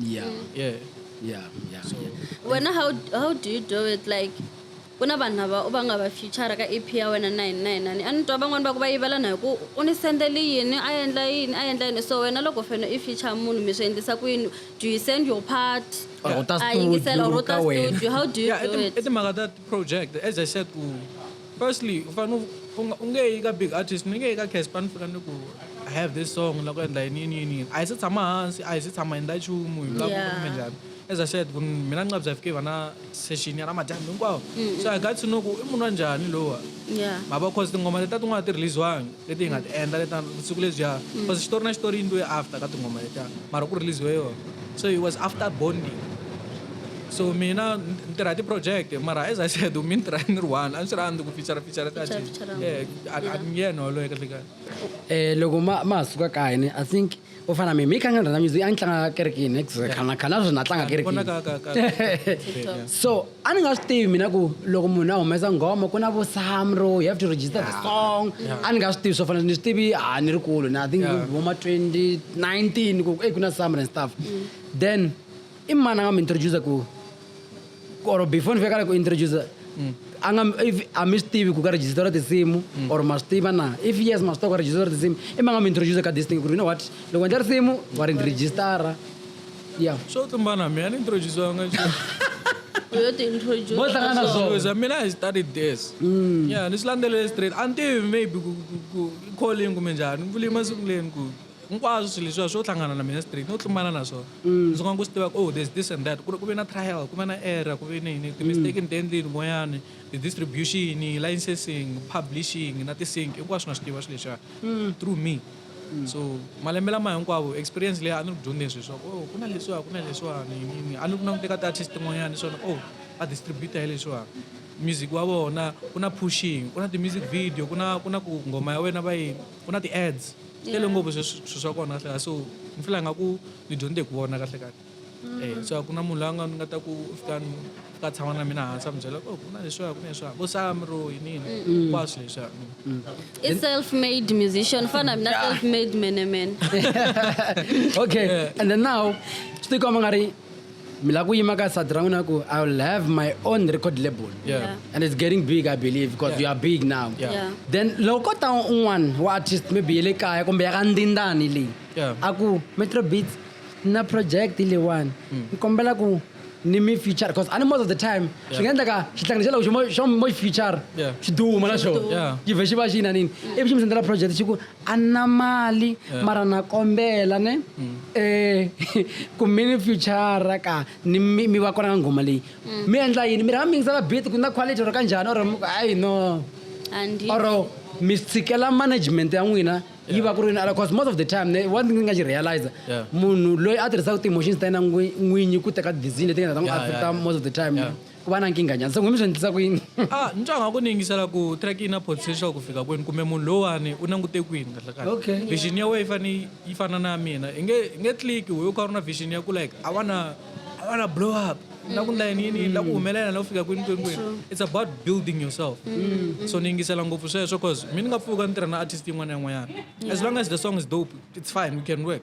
yeah mm. yeah yeah yeah so when how how do you do it like ku na vanhu lava u va nga va future ka ep ya wena na yini na yini na ni a ni twa van'wani va ku va yivela na hi ku u ni sendele yini a endla yini a endla yini so wena loko fene i future munhu mi swi endlisa ku yini do you send your part a yingisela or u ta studio how do you do it i timhaka ta project as i said ku Firstly, u fanele u nga u nge yi ka big artist ni nge yi ka Casper ni fika ni ku I have this song ni la ku endla yini yini yini yini a hi se tshama hansi a hi se tshama hi endla nchumu hi vulaku Yeah. kumbe njhani as I said ku ni mina ni nga bya fike hi va na session ya namadyambu hinkwawo so I got to know ku i munhu wa njhani lowa yeah ma va cause tinghoma letiya tin'wana a ti release-wangi leti hi nga ti endla leta siku lebyiya cause mm. xitori na xitori yi ndlwe after ka tinghoma letiya mara ku releasiwe yona so it was after bonding so mina ni tirha ti-project mara as i said mi ni tirha ni ri one a ni swi rhandzi ku fichara fichara tati nge yena waloye kahlekahle um eh, loko ma ma ha suka kayini i think u fana mi mi tlanga rhandza music a ni tlanga kerekini khana khana sweswi na tlanga kerekini so a ni nga swi tivi mina ku loko munhu a humesa nghoma ku na vo samro you have to register the song a ni nga swi tivi swo fana ni swi tivi a ni ri kulu na i think vo ma 2019 ku e ku na samro and stuff mm. then i mani a nga mi introduce ku or before ni fika la ku introduce a nga if a mi swi tivi ku ka register tinsimu or ma swi tiva na if yes ma swi tiva ku register tinsimu i ma nga mi introduce ka this thing ku ri you know what loko endla risimu wa ri registara yeah swo tlumbana mina ni introducanga yo ti introduce Vo hlangana na swona. Because, I mean, I studied this. Yeah, ni swi landzelele straight. A ni tivi maybe ku- ku- ku- i calling kumbe njhani. Ni vule masiku leni ku hinkwaswo swilo leswiya swo hlangana na mina straight no tlumbana na swona ndzi nga ku swi tivaka oh there's this and that ku ri ku ve na trial ku ve na error ku ve ni yini ti-mistake ni ti endlini kun'wanyani ti-distribution licensing publishing na ti-sync hinkwaswo na swi tiva swilo leswiya through me so malembe lama hinkwavo experience leyi a ni ri ku dyondzeni swilo swa ku oh ku na leswiwa ku na leswiwani yiniyini a ni ku languteka ti-artist tin'wanyani swona oh a distributor hi leswiwani music wa vona ku na pushing ku na ti-music video ku na ku na ku nghoma ya wena va yini ku na ti-ads ti tele ngopfu swilo swa kona kahle kahle so ni fila nga ku ni dyondze hi ku vona kahle kahle mm. eh, so a ku na munhu la nga ni nga ta ku fika ni ka tshama na mina hansi a mi byela oh, ku na leswiya ku na leswiya vo sam ro yinini hinkwaswo leswiya mm. i self made musician fana mina self made mene mene okay and then now swi tikomba nga ri mi lava ku yima ka sati ra n'wina ku i will have my own record label yeah. and it's getting big i believe because yeah. we are big now yeah. Yeah. then loko ta un'wana wa artist maybe ye le kaya kumbe ya ka ndindani leyi yeah. a ku metro beats na project leyiwani mm. ni kombela ku ni mi feature because ani most of the time swi nga endleka xihlangano xa loko xo mo xi feature xi duma na xona xi vhe xi va xi yina nini ivi xi mi sendela project xi ku a ni na mali mara na kombela ne eh ku mi ni future ka ni mi mi va kona ka nghoma leyi mi endla yini mi rhanga mi yingisela beat ku na quality or ka njhani or mi ku hayi no Andi. or mi tshikela management ya n'wina yi va ku ri ala cause most of the time ne one thing ni nga xi realize Yeah. munhu loyi a tirhisaka ti-emotions ta yena n'wi- n'winyi ku teka decision leti nga ta n'wi Yeah, yeah, affecta yeah. most of the time Yeah. ku va na nkingha njhani se n'wini mi swi endlisa ku yini ah ni twa nga ku ni yingisela ku track yi na potential ku fika kwini kumbe munhu lowani u nangute kwini kahle kahle Okay. vision ya wena yi fane yi fana na ya mina i nge i nge click wehe u kha u ri na vision ya ku like i wanna i wanna blow up ni la ku ndla yini yini ni la ku humelela ni la ku fika kwini kwini kwini it's about building yourself so ni yingisela ngopfu sweswo cause mi ni nga pfuka ni tirha na artist yin'wana na yin'wanyana as long as the song is dope it's fine we can work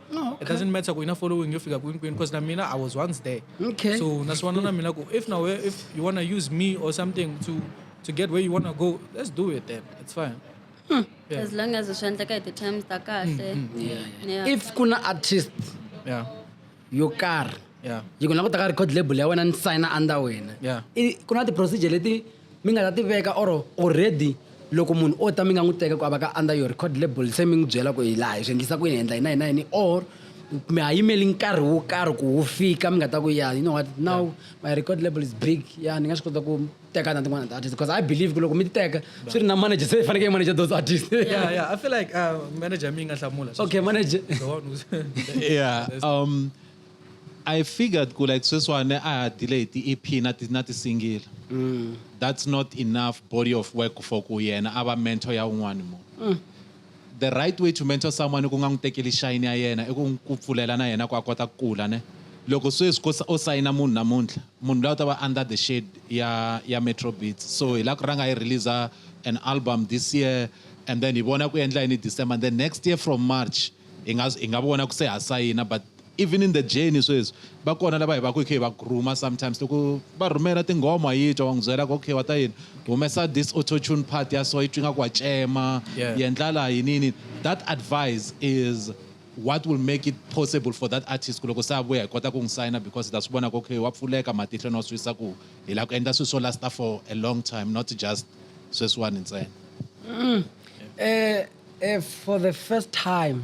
Oh, okay. It doesn't matter kuina following yofika kwini kwini because na mina I was once there. Okay. So naswana na mina ku if now if you wanna use me or something to to get where you wanna go, let's do it then. It's fine. Hmm. Yeah. As long as swi endleka hi ti-terms ta kahle. Mm, mm, yeah, yeah. Yeah. if kuna artist Yeah. yo karhi Yeah. yi ku na ku ta ka record label ya wena ni signa under wena Yeah. I- ku na ti-procedure leti Mi nga ta ti veka or already loko munhu o ta mi nga n'wi teka ku a va ka under your record label se mi n'wi byela ku hi laha hi swi endlisa ku yini hi endla yini na yini na yini or mi ha yimeli nkarhi wo karhi ku wu fika mi nga ta ku ya you know what now my record label is big ya ni nga swi kota ku teka na tin'wana ti-artist because i believe ku loko mi ti teka swi ri na manager se i fanekele i manager those artist yeah yeah i feel like uh, manager mi nga hlamula okay manager yeah um I figured ku like sweswani a ha dile hi ti EP na ti na ti single. That's not enough body of work for ku yena a va mentor ya un'wani munhu. The right way to mentor someone i ku nga n'wi tekeli shine ya yena i ku n'wi ku pfulela na yena ku a kota ku kula ne. Loko sweswi ko o sayina munhu namuntlha munhu luya u ta va under the shade ya ya Metro Beats so hi la ku rhanga hi release an album this year and then hi vona ku endla yini hi December and then next year from March hi nga hi nga vona ku se ha sayina but Even in the journey sweswi va kona lava hi va ku hi kha hi va groomer sometimes loko va rhumela tinghoma wa yi twa wa n'wi byela ku okay wa ta yini humesa this auto tune part ya so yi twi nga ku wa cema Yeah. yi endla laha yini yini that advice is what will make it possible for that artist ku loko se a vuya hi kota ku n'wi sayina because hi ta swi vona ku okay wa pfuleka matihlo ni wa swi visa ku hi lava ku endla swilo swo lasta for a long time not just sweswiwani ntsena Eh, eh, for the first time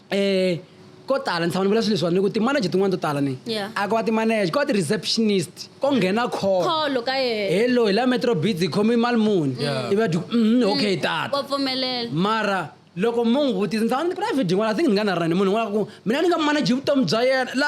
um ko tala ni tshama ni vula swilo leswiwani ni ku ti-manager tin'wana to tala ni Yeah. a ko va ti-manager ko va ti-receptionist ko nghena call kholo ka yena hello hi la metro beats hi khome mali muni Yeah. i va dyu mm, okay tata wa pfumelela mara loko mo n'wi vutisa ni tshama ni ku na video yin'wana i think ni nga na rani munhu un'wana ku mina ni nga manager vutomi bya yena la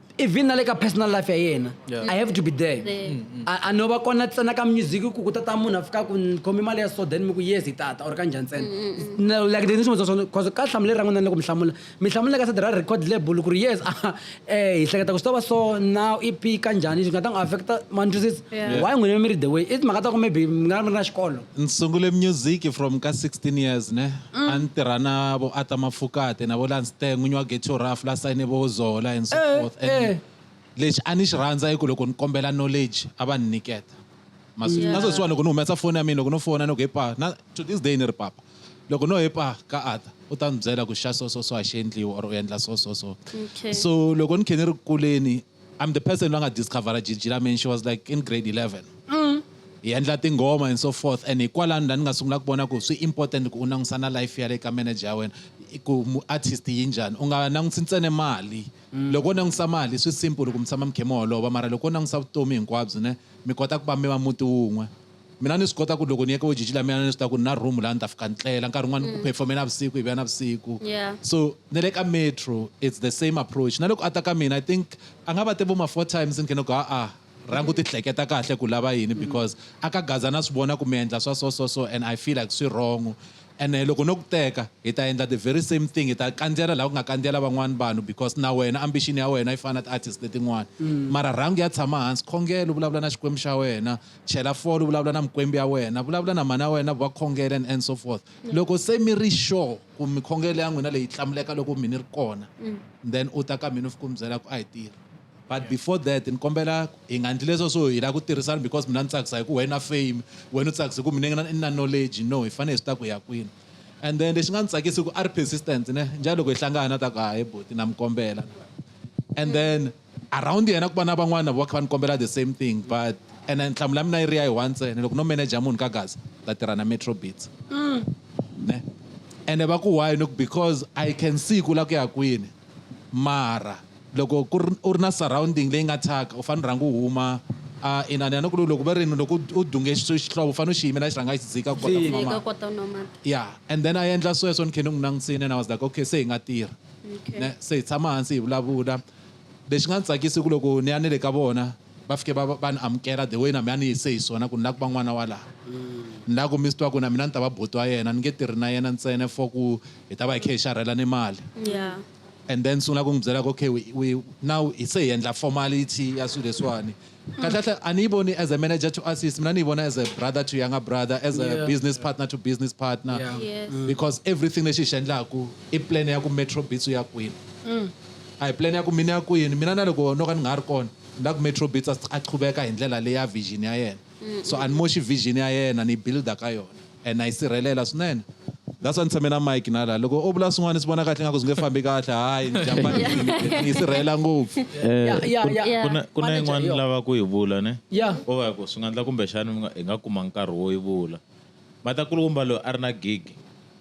even na le ka personal life ya yena yeah. i have to be there mm, mm. a no va kona ntsena ka music ku ku tata munhu a fika ku khomi mali ya so then mi ku yes hi tata or ka njhani ntsena mm, mm, like the nisimo swona cause ka hlamuleli ra n'wina ni le ku mi hlamula mi hlamula ka side ra record label ku ri yes eh hi hleketa ku swi ta va so now ep ka njhani swi nga ta n'wi affecta mantwisisa why n'wina mi ri the way i timhaka ta ku maybe mi nga ri na xikolo Ni sungule music from ka 16 years ne mm. a ni tirha na vo Ata Mafukate na vo Lanste n'winyi wa Ghetto Rough la sayine vo Zola and so eh, forth and eh. lexi a ni xi rhandza i ku loko ni kombela knowledge a va ni nyiketa masiku yeah. nasweswiwa loko ni humesa foni ya mina loko no fona ni ku hepa na to this day ni ri papa loko no hepa ka Ata u ta ni byela ku xa so so so a xi endliwa or u endla so so so okay. so loko ni khe ni ri kuleni I'm the person loyi a nga discover Gigi lami and she was like in grade 11 hi endla tinghoma and so forth and hikwalani la ni nga sungula ku vona ku swi important ku u langutisa na life ya le ka manager ya wena i ku mu- artist yi njhani u nga langutisi ntsene mali loko u langutisa mali swi simple ku mi tshama mi khe mi holova mara loko u langutisa vutomi hinkwabyo ne mi kota ku va mi va muti wun'we Mina ni swi kota ku loko ni ye ka vo Jiji la mina ni swi tiva ku ni na room laha ni ta fika ni tlela nkarhi wun'wani u perform-e navusiku hi vuya navusiku Yeah. so na le ka metro it's the same approach na loko a ta ka mina i think a nga va te vo ma four times ni khe ni ku ha-a rhanga u ti hleketa kahle ku lava yini because a ka gaza na swi vona ku mi endla swa so so so and i feel like swi wrong ene loko no ku teka hi ta endla the very same thing hi ta kandziyela laha ku nga kandziyela van'wana vanhu because na wena ambition ya wena yi fana na ti-artist letin'wana mara rhanga u ya tshama hansi khongela u vulavula na xikwembu xa wena chela fole vulavula na mikwembu ya wena vulavula na mhani ya wena va khongela and and so forth mm. loko se mi ri sure ku mikhongelo ya n'wina leyi tlamuleka loko mi ni ri kona mm. then u ta ka mina fika u mi byela ku a yi tirhi but before that ni kombela hi nga ndli leswo swo hi lava ku tirhisana because mina ni tsakisa hi ku wena fame wena u tsakisa hi ku mina ni na knowledge no hi fanele hi swi ta ku ya kwini and then lexi nga ni tsakisi ku a ri persistent ne njalo loko hi hlangana ta ku hayi boti na mi kombela and then mm. around yena ku va na van'wana vo va kha va ni kombela the same thing but ene nhlamulo ya mina yi ri ya yi one ntsena loko no manager munhu ka gaza ni ta tirha na metro beats ne ene va ku why ni ku because i can see ku la ku ya kwini mara loko ku ri u ri na surrounding leyi nga thyaka u fanele u rhanga u huma a inani ya ni ku loko va rini loko u dunge xi- xihlovo u fanele u xi yimela xi rhanga xi dzika ku kota ku nwa Eka mati kota u nwa mati ya and then a endla sweswo ni khe ni n'wi langutisile and i was like okay se hi nga tirha Okay. ne se hi tshama hansi hi vulavula Lexi nga ni tsakisa i ku loko ni ya ni le ka vona va fike va va ni amukela the way na mina a ni yise hi swona ku ni lava ku va n'wana wa laha ni lava ku mi swi tiva ku na mina ni ta va buti wa yena ni nge tirhi na yena ntsena for ku hi ta va hi khe hi xarhela ni mali yeah and then sungula ku n'wi byela ku okay we now hi se hi endla formality ya swilo leswiwani kahle kahle aniyiboni as a manager to artist mina niyibona as a brother to younger brother as a yeah. business partner to business partner yeah. yes. mm. because everything lexi hi xi endlaku i plan ya ku metro beats ya kwini mm. a hi plan ya ku mina ya kwini mina na loko no ka ni nga ri kona na ku metro beats a qhuveka hi ndlela leya vision ya yena mm. so ani moxi vision ya yena ni builda ka yona and na yi sirhelela swinene that's why ni tshame na mike na laha loko o vula swin'wana swi vona kahle ingaku swi nge fambi kahle hayi njhambani yi sirhelela ngopfu Eh, Yeah, yeah, kun- yeah. kuna- kuna Manager, yin'wana yo. ni lava ku yi vula ne Yeah. o va ku swi nga endla kumbexani mi nga- hi nga kuma nkarhi wo yi vula matakulukumba loyi a ri na gig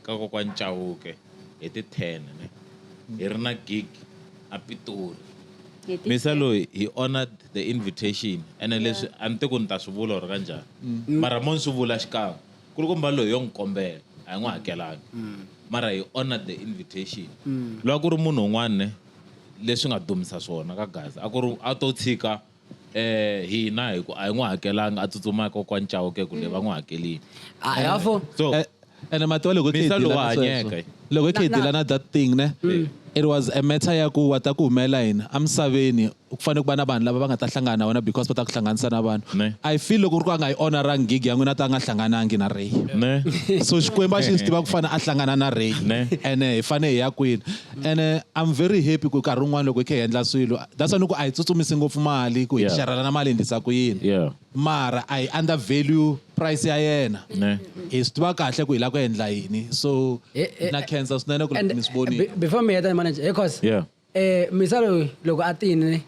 ka kokwani chawuke hi ti-ten ne hi ri na gig a Pitori Hi ti- misa loyi he honored the invitation ene leswi a ni te ku ni ta swi vula or ka njhani mara mo ni swi vula xikan'we ku ri kumba loyi yo n'wi kombela a hi n'wi hakelanga mara he honored the invitation loko ku ri munhu un'wana ne leswi nga dumisa swona ka gaza a ku ri a to tshika eh hina hi ku a hi n'wi hakelanga a tsutsuma kokwani Chauke ku le va n'wi hakelini a hi hafo so Eh, ene matiwa loko hi Misa khedila lowa na sweswo. hanyeke. loko hi Na- khedila na- na that thing ne it was a matter ya ku wa ta ku humela yini emisaveni ku fanele ku va na vanhu lava va nga ta hlangana na wena because va ta ku hlanganisa na vanhu Ne. i feel loko ri ku a nga yi honorangi gig ya n'wina ta nga hlanganangi na ray ne so xikwembu a xi swi tiva ku fane a hlangana na ray Ne. ene hi fane hi ya kwini Ene I'm very happy ku nkarhi wun'wana loko hi kha hi endla swilo that's why ni ku a hi tsutsumisi ngopfu mali ku hi Yeah. xerhelana mali hi endlisa ku yini Yeah. mara a hi under value price ya yena Ne. hi swi tiva kahle ku hi lava ku endla yini so Eh, eh, na khensa swinene ku And, mi swi vonile be- before mi heta ni manager hey cos Yeah. eh misalo loko a tini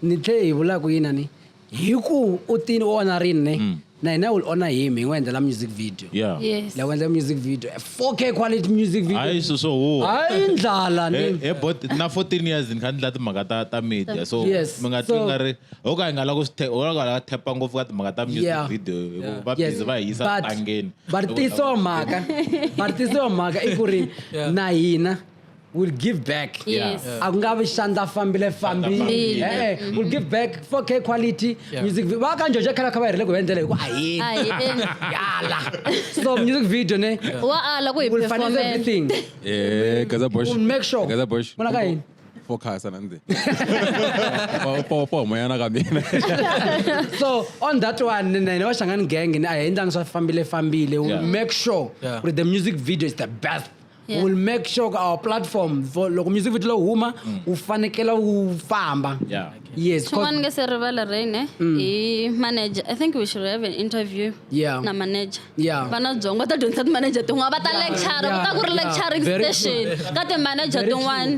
ni tlhe hi vula ku yini a ni hi ku u tini u onha rini ne mm. na hina will honor him hi n'wi endlela music video yeah. yes. la ku endlela music video 4k quality music video hayi so so wo hayi ndlala ni eh, eh but na 14 years ni kha ndla timhaka ta ta media so yes. mi nga twi nga ri ho ka hi nga la ku sithe ho ka la thepa ngopfu ka timhaka ta music yeah. video yeah. va busy yes. va hi yisa tangeni va tisa mhaka va tisa mhaka i ku ri na hina will give back Yes. Yeah. akungavi xandla fambile fambi Fambile. Eh, eh, will give back 4k quality Yeah. music vi- va kanjhojo khala kha va herile ku va endlela hi ku a hi A hi endli. yala so music video ne wa ala ku hi will finance performela everything Eh, Gaza Bosch. We'll make sure. Gaza Bosch. Muna ka yini? Four cars sana nze. Four- Four four moyana ka mina. so on that one ne- ne ne va xangani gang ne a hi endlangi swa fambile fambile will Yeah. make sure Yeah. ku ri the music video is the best Yeah. will make sure ku our platform for loko music video lo huma wu fanekela wu famba Yeah. yes cause- xin'wana nge se rivala rain eh? i manager i think we should have an interview Yeah. na manager Yeah. vana byongo va ta dyondzisa timanager tin'wana va ta lecture ku ta ku ri yeah, lecturing very true. station ka timanager Very true. tin'wana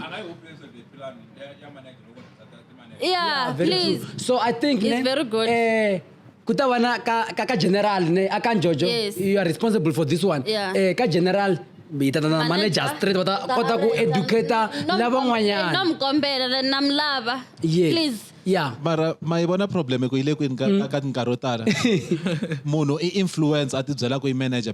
yeah, Yeah, very please true. So I think It's ne, very good. Eh, ku ta va na ka ka, ka general ne a ka njojo Yes. you are responsible for this one Yeah. eh ka general hi ta ta na manager Manager. straight va ta Ta- kota ku ta- educator No, no lavan'wanyana mu kombela le, na mi lava Yes. please yeah mara ma yi vona problem ku yi le kwini ka- ka ka tinkarhi yo tala munhu i influence a tibyela ku i manager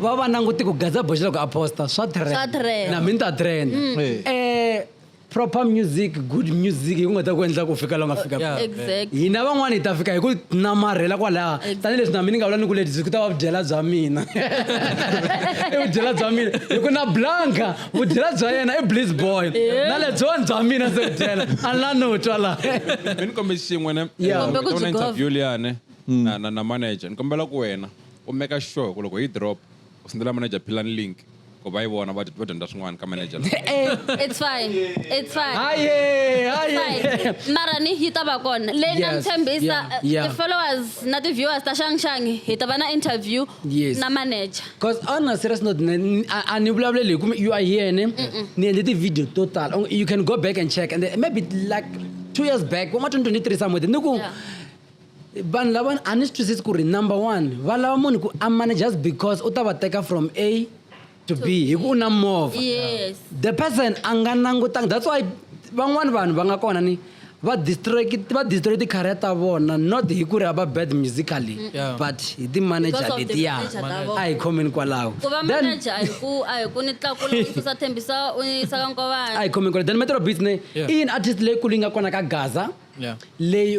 va va nanguti ku gaza boxa loko a posta swa Swa trend. na mina ta trend Eh. eh proper music good music yi ku nga ta ku endla ku fika la u nga fika Yeah. kona. exactly hina van'wana hi ta fika hi ku namarhela kwalaha tanihileswi na mina ni nga vula ni ku leti ku ta va vudyela bya mina i vudyela bya mina hi ku na blanka vudyela bya yena i bliss boy na lebyiwani bya mina se vudyela a ni la no twa laha mi ni kombe xin'we ne Yeah. Kombe ku byi interview liyane na na na manager ni kombela ku wena U maker sure hi ku loko yi drop u sendela manager philani link ku va yi vona va va dyondza swin'wana ka manager la Eh, it's fine it's fine Haye, haye. Fine. mara ni yi ta va kona leyi na Yes, mi tshembisa yeah, yeah. eh, ti-followers na ti-viewers ta xangxangi hi ta va na interview Yes. na manager Cause on a serious note, ne- ni- a a ni vulavuleli hi ku you are here ne ni endle ti-video to tala. Oh, You can go back and check and then maybe like two years back, wa ma 2023 somewhere, ni ku Yeah. vanhu lava a ni swi twisisi ku ri number one va lava munhu ku a mane just because u ta va teka from a to b hi ku u na movha yes the person a nga langutanga that's why van'wani vanhu va nga kona ni va distract va destroy ti-career ta vona not hi ku ri a va bad musically Yeah. but hi ti-manager Because of the letiya manager ta vona. a hi khomeni kwalaho ku va Then- manager a hi ku a hi ku ni tlakula u susa thembisa u ni yisa ka a hi nkovana khomeni kwalaho then metro beats ne Yeah. i yini artist leyikulu yi nga kona ka gaza Yeah. leyi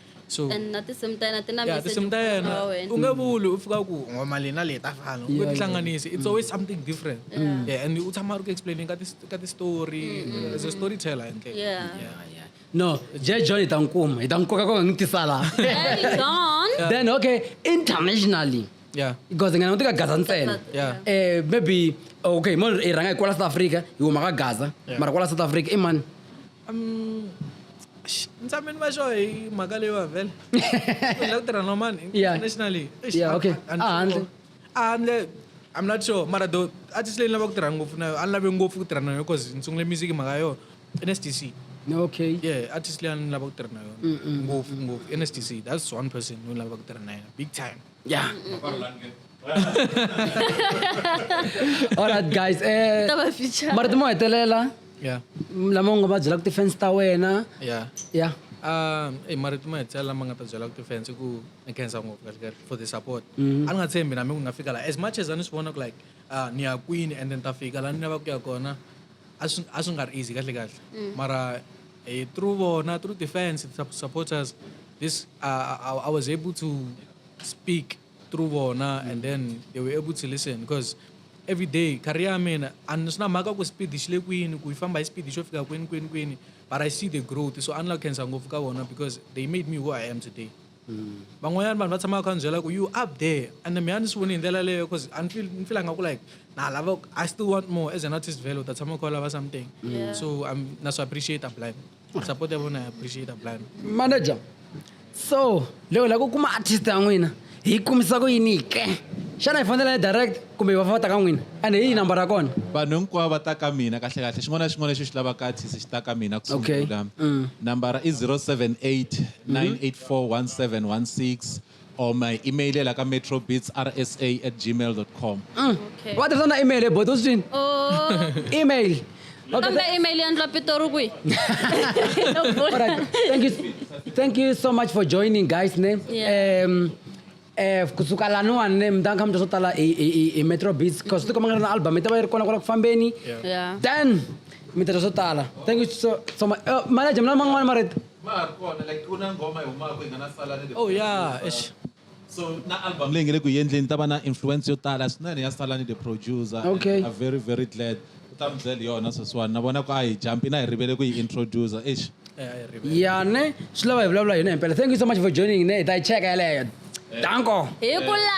so and na tinsimu ta yena ti na yeah, tinsimu ta yena u nge vuli u fika ku ngoma leyi na leyi ta fana u ti hlanganisi it's always something different mm. yeah, and u tshama ri ku explaining ka ka ti-story mm. as a storyteller hi ndlela yeah. yeah, yeah. no je john hi ta n'wi kuma hi ta n'wi koka koka n'wi tisa laha then okay internationally yeah because ngana utika gaza ntsena yeah eh maybe okay mo i rhanga hi kwala south africa hi huma ka gaza mara kwala south africa i mani Um, ntsambeni va xo hi mhaka leyiwa vhele la ku tirha nomani internationally ahandle ahandle i'm not sure mara do artist leyi ni lava ku tirha ngopfu na yo a ni lave ngopfu ku tirha na yo because ni sungule music mhaka yo nsdc okay yeah artist leyi a ni lava ku tirha na yona ngopfu ngopfu nsdc that's one person ni lava ku tirha na yena big time yeah alright guys eh, ta va feature mara ti mo hetelela yeah lama u nga va byela ku ti-fans ta wena yeah ya um eyi mara ti mo hetelela lama nga ta byela ku ti-fans i ku ni khensa ngopfu kahle kahle for the support a ni nga tshembi na mi ku ni nga fika laha as much as a ni swi vona ku like ah, ni ya kwini and then ta fika laha ni lava ku ya kona a swi a swi nga ri easy kahle kahle mara eh, through vona through the fans the sup- supporters this uh, I, I was able to speak through vona and then they were able to listen because every day career ya mina a ni swi na mhaka ku speed xi le kwini ku yi famba hi speed xo fika kwini kwini kwini but i see the growth so a ni la ku khensa ngopfu ka vona because they made me who i am today van'wanyana vanhu va tshamaka kha ni byela ku you up there and mina ni swi voni hi ndlela leyo because a ni fila nga ku like na lava i still want more as an artist vele u ta tshama u kha u lava something so na swi appreciate a blind support ya vona ya appreciate plan manager so loko la ku kuma artist ya n'wina hi kumisa ku yini ke xana hi fanele direct kumbe va fata ka n'wina and hi yi number ya kona vanhu hinkwavo va ta ka mina kahle kahle xin'wana na xin'wana lexi xi lavaka artist xi ta ka mina ku sungula mm. nambara i 078 984 1716 or my email leyi la ka metrobeatsrsa at gmail com Okay. va tirhisa na email ebota u swi twini Oh, email Okay, kambe email ya ndla pitori kwihi Alright. Thank you. Thank you so much for joining, guys. Ne? Yeah. Um, eh, kusuka laniwani ne mi ta kha mi twa swo tala hi- hi hi- hi metro beats cause ti komanga na album yi ta va yi ri kona kwala ku fambeni Yeah. then mi ta twa swo tala thank you so, so much uh, manager mi na man'wana marito ma ha ri kona like ku na nghoma yi humaka yi nga na sala ni the oh yeah eish. so na album leyi nge le ku yendleni ta va na influence yo tala swinene ya sala ni the producer and Okay. we are very very glad u ta mi byela hi yona sweswiwani na vona ku a hi jampi na hi rivele ku yi introducer eish ya ne swi lava hi vulavula hi yona himpela thank you so much for joining ne hi ta yi cheka yeleyo danko hi ku la